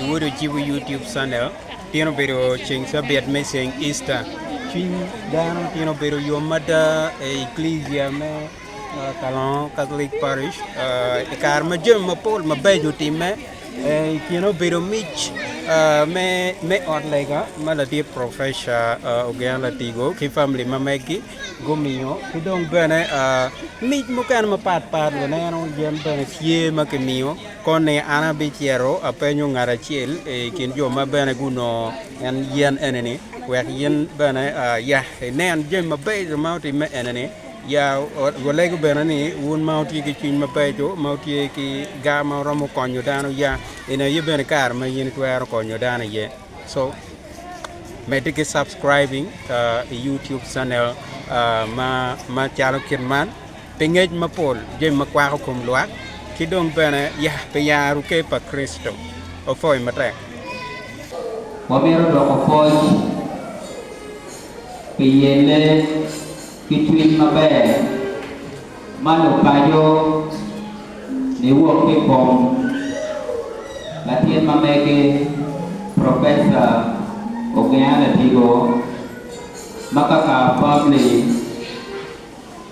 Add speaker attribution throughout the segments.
Speaker 1: Iwodo ci wi YouTube channel Tino obedo ceng cabiat me ceng Easter. Cwiny dano tino obedo yom mada e Ecclesia me uh, Kalongo Catholic Parish uh, i kare ma jami mapol mabeco otimme. Uh, I kine obedo mic uh, me, me ot lega ma latit Professor uh, Ogen Latigo ki famili ma meggi gumiyo ki dong bene uh, mic mukene mapat pat luneno yen bene tye ma kimiyo Koni an abicito apenyo ngat acel i kin jo ma bene gunongo en yen eni-ni, wek in bene ya inen jami mabeco ma otimme eni-ni, ya walegu bene ni wun ma wutye ki cwiny mabeco, ma wutye ki gar ma wuromo konyo dano, ya inen aye bene kare ma in itwero konyo dano iye. So, medde ki subscribing i YouTube channel ma calo kit man. pi ngec mapol jami ma kwako kom lwak, ki dong bene pi yaro ker pa Kricito. Opwoyo matek.
Speaker 2: Wamito doko pwoc pi yelle ki cwiny maber ma lupaco niwok ki i kom latin ma mege, Professor Ogea Ladigo, ma kaka famili.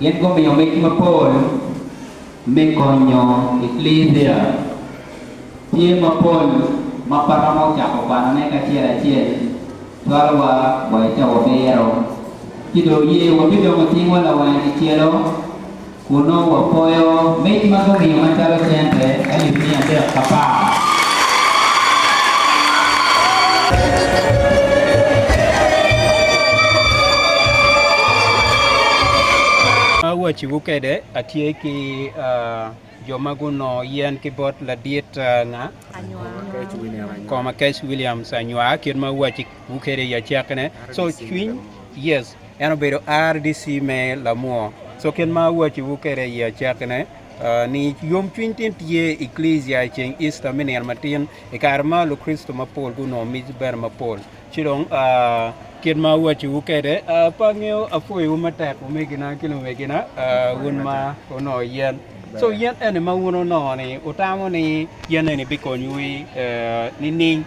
Speaker 2: Gin gumiyo mic mapol me konyo Eklesia. Tye mapol ma pe romo cako kwanone kacel acel cwalowa wa i cawa biro. Ci dong oye wabidongo cingwa lawange kicelo kun nongo wapoyo mic ma gumiyo macalo cente alip miya adek ka par.
Speaker 1: Awacciwu kede, atye ki jo ma gunongo yen ki bot ladit anga, koma Cash Williams anywa, kit ma awacciwu kede i acakkine. So cwiny, yes, en obedo RDC me Lamwo. So kit ma awacciwu kede i acakkine, ni yom cwiny tin tye i Klisia i ceng Easter me nino matin, i kare ma Lukricito mapol gunongo miti bene mapol. Ci dong, kit ma awacciwu kwede, pe angeyo apwoyiwu matek wumegina ki lumegina, wun ma wunongo yen. Co yen eni ma wun wunongo-ni, wutamo ni yen eni bikonyowu i nining?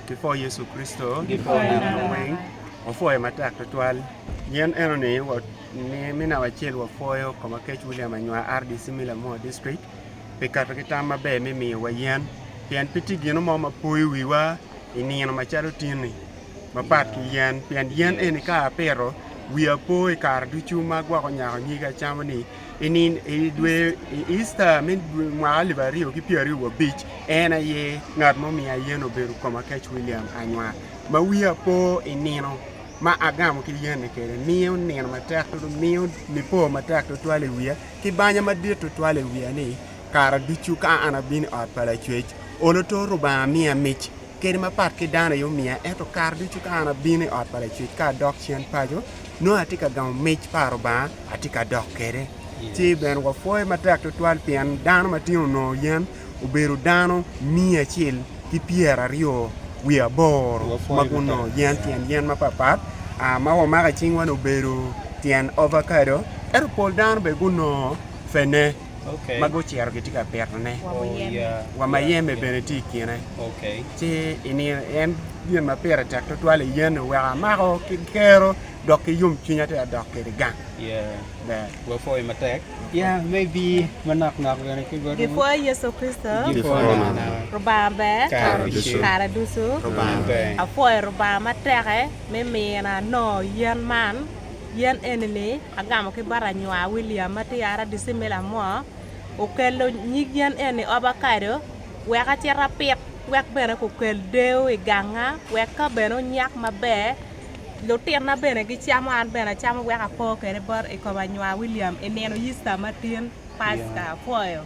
Speaker 3: Kipwoyo Yecu Kricito ki nongo weng, wapwoye matek tutwal. Yen enoni, me namba acel wapwoyo Komakec William Anywa, RDC me Lamua District. pi kato ki tam maber me miyowa yen, pien pe tye gino mo ma poyo wiwa i nino macalo otinni, mapat ki yen, pien yen eni ka apito, wiya po i kare ducu ma agwoko nyako nyig acamo-ni. I dwe Easter me mwaka alip aryo ki pyeraryo wa abic, en aye ngat ma omiya yen obedo Komakec William Anywa, ma wiya po i nino ma agamo ki yen-ni kwede, miyo nino matek tutwal i wiya. ki banya madit tutwal i wiya ni, Kare ducu ka an abino i ot pa Lacwec, olo to Rubanga miya mic, kadi mapat ki dano aye omiya, ento kare ducu ka an abino i ot pa Lacwec ka adok cen paco, nongo atye ka gamo mic pa Rubanga, atye ka dok kwede. Ci bene wapwoye matek tutwal pien dano ma tino onongo yen obedo dano miya acel ki pyera aryo wiye aboro ma gunongo yen tyen yen mapatpat ma wamako icingwa ni obedo tyen ovakado ento pol dano bene gunongo fene ma gucito
Speaker 1: gitye ka
Speaker 3: pitone wa mayeme bene tye i kine ci en gin ma pire tek tutwal i yen-ni oweko amako ki kero dok ki yomcwinya adada dok kwede gang.
Speaker 1: Gipwoyo Yecu Kricito Lubanga ber
Speaker 4: kare ducu.
Speaker 1: Apwoyo Lubanga
Speaker 4: mateke me mina anongo yen man. Yen eni ni agamo ki bot anywa William ma tye RDC me Lamwor okelo nyig yen eni ovacado wek acit apit wek bene kukel deyo iganga wek ka bene onyak maber Lutinna bene gicamo, an bene acamo wek apo kwede bot i kom anywa William i nino Icita matin, Paska. Apwoyo.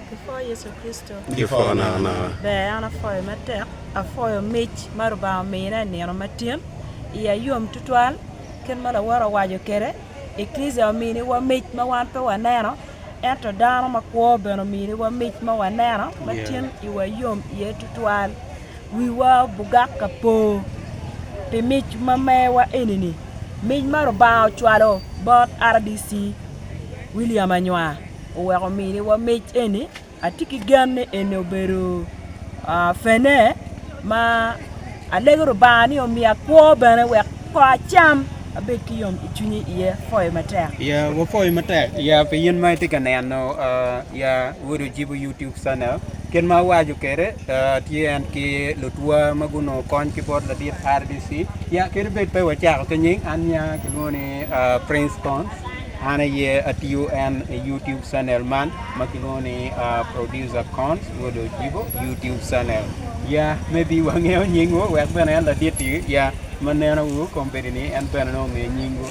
Speaker 1: Kipwoyo Yecu
Speaker 4: Kricito. Kipwoyo nakanaka.
Speaker 3: Ber, an apwoyo
Speaker 4: matek. Apwoyo mic ma Lubanga omina i nino matin. Iya yom tutwal kit ma lawote owaco kwede. Eklija ominiwa mic ma wan pe waneno, ento dano makwo bene ominiwa mic ma waneno, ma tyen iwa yom iye tutwal. Wiwa obugak ka po pi mic ma mewa eni-ni, mic ma Lubanga ocwalo bot rdc William Anywa oweko miniwa mic eni. Atye ki gen ni eni obedo pene ma alego Lubanga ni omiya kwo bene wek Ko acam, abed ki yom i cwinyi iye, apoyo matek. Ya wapoyo matek
Speaker 1: ya pi in ma itye ka neno ya Wod Ojibo YouTube channel. Kit ma awaco kwede tye en ki lutwa ma gunongo kony ki bot ladit RDC. Ya kadi bed pe wacako ki nying an ya kilwongo ni Prince Cons an aye atiyo en i YouTube channel man ma kilwongo ni Producer Cons Wod Ojibo YouTube channel. Ya maybe wangeyo nyingwu wek bene en ladit-ti ya. Ma nenowu kong bedi ni en bene nongo ngeyo nyingwu.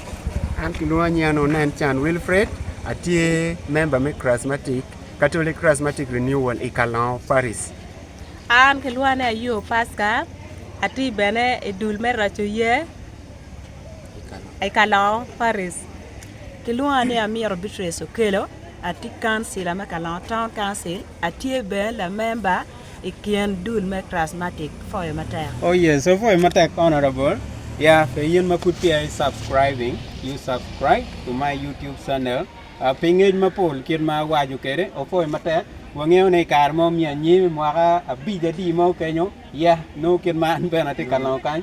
Speaker 1: An kilwonga
Speaker 3: nying anunu en Can Wilfred, atye member me Chrismatic, Catholic Chrismatic Renewal i Kalongo Parish. An
Speaker 4: kilwonga ni Ayub Pasca, atye bene i dul me Raco Ye i Kalongo Parish. Kilwonga ni Amiro Beatrice Okello, atye kancila me Kalongo Town Council, atye bene lamemba I kin dul me Krassmatic, foyo matek. Oh yes, opoyo
Speaker 1: matek honorable. Yeah, pe in ma pud peya i subscribing, you subscribe to my YouTube channel. Ah, pi ngec mapol kit ma awaco kede, opoyo matek. Wangeyo ni i kare mo me anyim, mwaka abic adi mo kenyo, yeah, nongo kit ma an bene atye ka longo kany,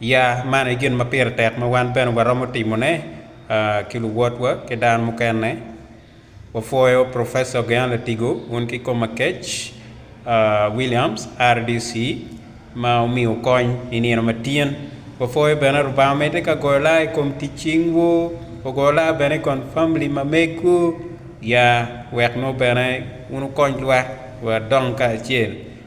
Speaker 1: Ya, man aye gin ma pire tek ma wan bene waromo timone ki luwotwa ki dano mukene. Wapwoyo Professor Gean Latigo un ki kom akec Williams, RDC, ma omiyo kony i nino ma tin. Wapwoyo bene Lubanga medde ka goyo laa i kom tic cingwu, ogo laa bene i kon famili ma megwu. Ya, wek nongo bene wun wukony lwak wadong kacel.